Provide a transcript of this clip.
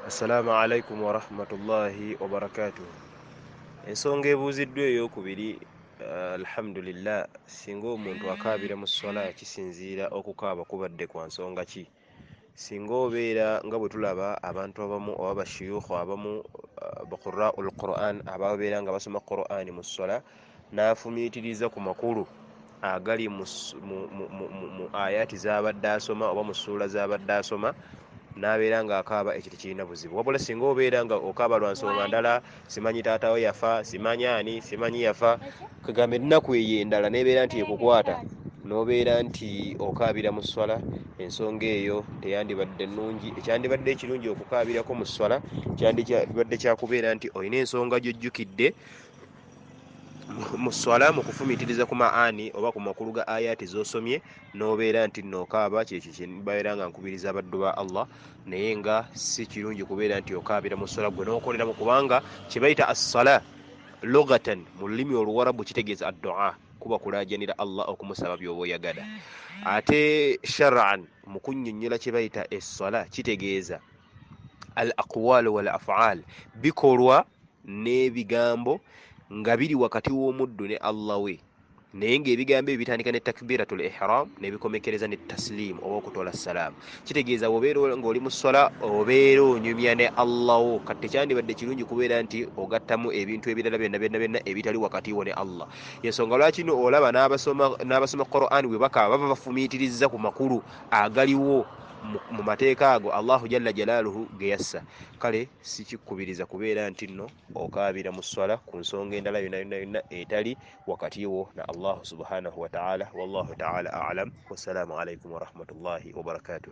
assalamu alaikum warahmatullahi wabarakatuh ensonga ebuuziddwa eyokubiri eh, alhamdulillah singa omuntu akaabira mu swala kisinziira okukaaba kubadde kwa nsonga ki singa obeera nga bwe tulaba abantu abamu oba bashuyukhu abamu eh, baqurau lquran ababeera nga basoma qurani mu swala n'afumiitiriza ku makulu agali mu, mu, mu, mu, mu, mu ayati z'abadde asoma oba mu ssuula z'abadde asoma n'abeera ng'akaaba ekyo tekirina buzibu wabula singa obeera nga okaaba lwa nsonga ndala simanyi taata we yafa simanyi ani simanyi yafa kagamba ennaku eyo endala n'ebeera nti ekukwata n'obeera nti okaabira mu sswala ensonga eyo teyandibadde nnungi ekyandibadde ekirungi okukaabirako mu sswala kyandibadde kyakubeera nti olina ensonga gyojjukidde mu swala mu kufumitiriza ku maani oba ku makulu ga ayaati zosomye nobeera nti nokaaba kyekyo kyebabeera nga nkubiriza abaddu ba allah naye nga si kirungi kubeera nti okaabira mu swala gwe nokoleramu kubanga kyebayita assala logatan mu lulimi oluwarabu kitegeeza addua kuba kulajanira allah okumusaba byoba oyagala ate sharan mu kunyonyola kyebayita esswala kitegeeza al aqwal wal afaal bikolwa n'ebigambo nga biri wakati w'omuddu ne allah we naye ng'ebigambo ebyo bitandika ne takbiratul ihram nebikomekkereza ne tasiliimu oba okutola salaamu kitegeeza wobeera ng'oli mu swala obeera onyumya ne allah wo kati tekyandibadde kirungi kubeera nti ogattamu ebintu ebirala byonna byonna byonna ebitali wakati wo ne allah yensonga lwaki no olaba n'abasoma quran bwe bakaba baba bafumiitiriza ku makulu agaliwo mu mateeka ago allahu jalla jalaaluhu ge yassa kale Sikikkubiriza kubeera nti nno okaabira mu sswala ku nsonga endala yonna yonna yonna etali wakati wo na Allahu subhanahu wa ta'ala. Wallahu ta'ala a'lam. Wassalaamu alaikum warahmatullahi wabarakatuh.